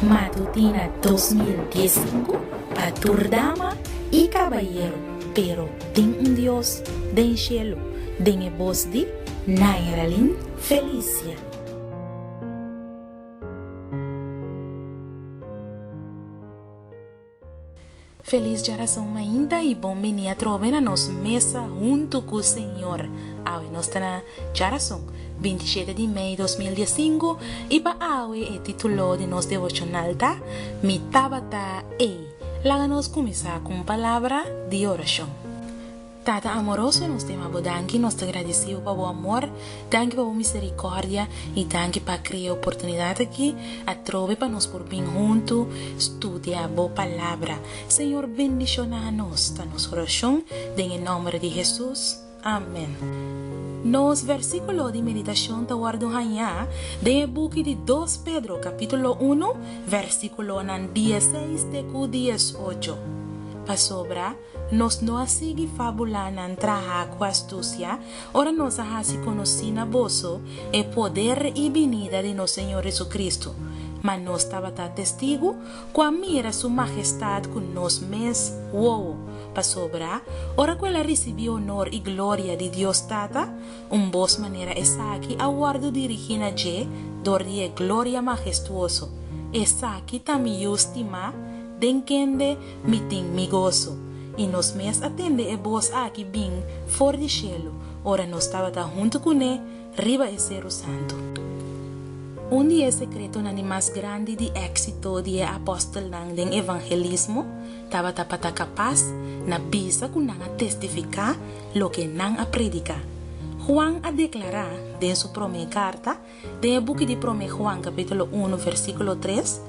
Matutina dos mil dies i sinku pa tur dama i kabayeru pero tin un Dios den shelu den e bos di Nairalyn Felicia. Felis Jarason mainta y bon bini atrobe na nos mesa huntu cu Señor. Awe nos ta na Jarason, binti shete di mei dos mil dies sinku y pa awe e titulo di nos devocional ta, Mi Tabata Ei. Laga nos cuminsa cu un palabra di oracion. Tata amoroso, nos te mabo danki, nos ta gradisibo pa bo amor, danki pa bo misericordia y danki pa crea oportunidad aki atrobe pa nos por bin hunto studia bo Palabra. Señor bendiciona nos, ta nos oracion den e nomber di Hesus. Amen. Nos versiculo di meditacion ta wordo haña den e buki di Dos Pedro capitulo uno versiculonan dieseis te cu diesocho, pasobra. Nos no a sigui fabulanan traha ku astusia ora nos a hasi konosí na boso e poder i binida di nos Señor Hesukristu, ma nos tabata testigu ku a mira Su Mahestat ku nos mes wowo, pasobra ora ku el a risibí onor i gloria di Dios Tata, un bos manera esaki a wòrdu dirigí na dje dor di e gloria mahestuoso, esaki ta miyu stimá den kende mi tin mi goso. I nos mes a tende e bos aki bin for di shelu ora nos tabata huntu ku ne riba e seru santu. Un di e sekretonan di mas grandi di éksito di e apòstelnan den evangelismo tabata pa ta kapas na bisa ku nan a testifiká loke nan a prediká. Juan a deklará den su promé karta Den e buki di Promé Juan kapítulo unu versíkulo tres,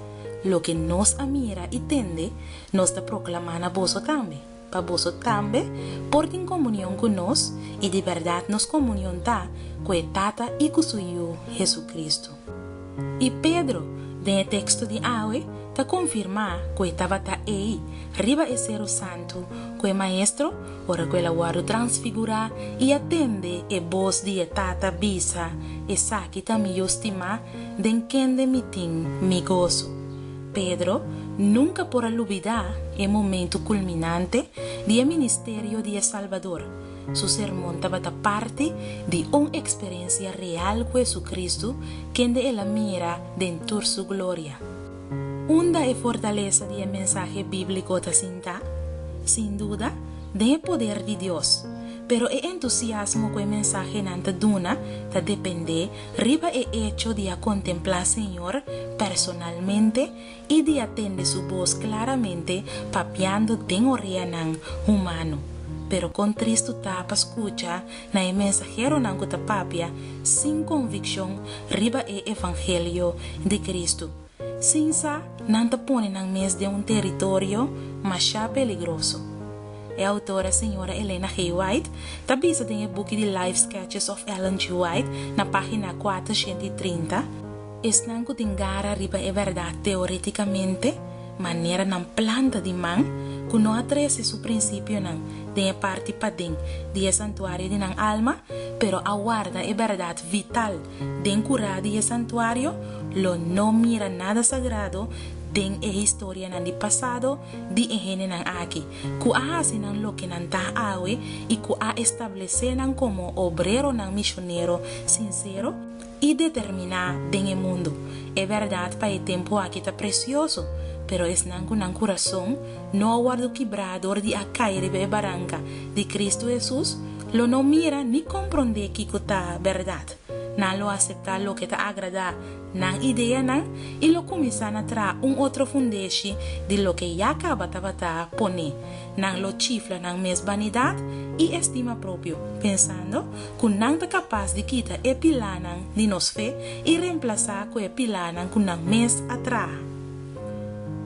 Loke nos a mira i tende, nos ta proklamá na boso tambe, pa boso tambe por tin komunion ku nos, i di bèrdat nos komunion ta ku e Tata i ku su Yu, Hesukristu. I Pedro, den e teksto di awe, ta konfirmá ku e tabata ei riba e seru santu ku e Maestro Ora ku el a wòrdu transfigurá i a tende e bos di e Tata bisa, Esaki ta mi Yu stimá, den kende mi tin mi goso. Pedro nunka por a lubidá e momentu kulminante di e ministerio di e Salbador. Su sermon tabata parti di un eksperensia real ku JesuCristu, kende el a mira den tur su gloria. Unda e fortalesa di e mensahe bíbliko ta sintá? Sin duda, den e poder di Dios. Pero e entusiasmo ku e mensahenan ta duna ta dependé riba e echo di a kontemplá Señor personalmente i di a tende su bos klaramente papiando den oreanan humano. Pero kon tristu ta pa skucha na e mensaheronan ku ta papia sin konvikshon riba e evangelio di Kristu, sin sa nan ta pone nan mes den un teritorio mashá peligroso. E outora señora Elena G. White ta bisa den e buki di Life Sketches of Ellen G. White na página kuater shenti i trinta, Esnan ku tin gara riba e bèrdat teoretikamente, Manera nan planta di man ku no a trese su prinsipionan den e parti paden di e santuario di nan alma, pero a warda e bèrdat vital den kurá di e santuario, lo no mira nada sagrado den e historianan di pasado di e hendenan aki ku a hasi nan loke nan ta awe i ku a establesé nan komo obreronan mishonero sinsero. i determiná den e mundu. E bèrdat pa e tempu aki ta presioso, pero esnan ku nan kurason no a wòrdu kibrá dor di a kai riba e baranka di Kristu Hesus lo no mira ni komprondé kiko ta bèrdat. Nan lo aseptá loke ta agradá nan ideanan i lo kuminsá na traha un otro fundeshi di loke ya kaba tabata poné. Nan lo chifla nan mes banidat i estima propio, pensando ku nan ta kapas di kita e pilánan di nos fe i remplasá ku e pilánan ku nan mes a traha.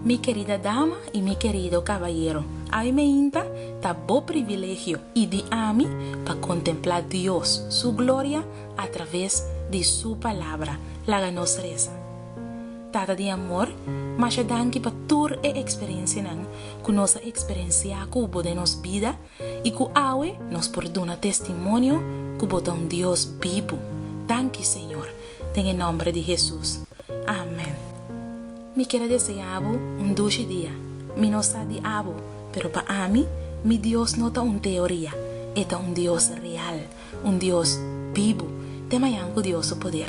Mi kerida dama i mi kerido kabayero, aimainta ta bo privilegio i di ami pa kontemplá Dios su gloria atraves di su Palabra. Laga nos resa. Tata di amor, masha danki pa tur e eksperensianan ku nos a eksperensiá ku bo den nos bida i ku awe nos por duna testimonio ku bo ta un Dios bibu. Danki, Señor, den e nòmber di Hesus. Amèn. Mi ker a deseá bo un dushi dia. Mi no sa di abo, pero pa ami, mi Dios no ta un teoria, e ta un Dios real, un Dios bibu, te mañan ku Dios su poder.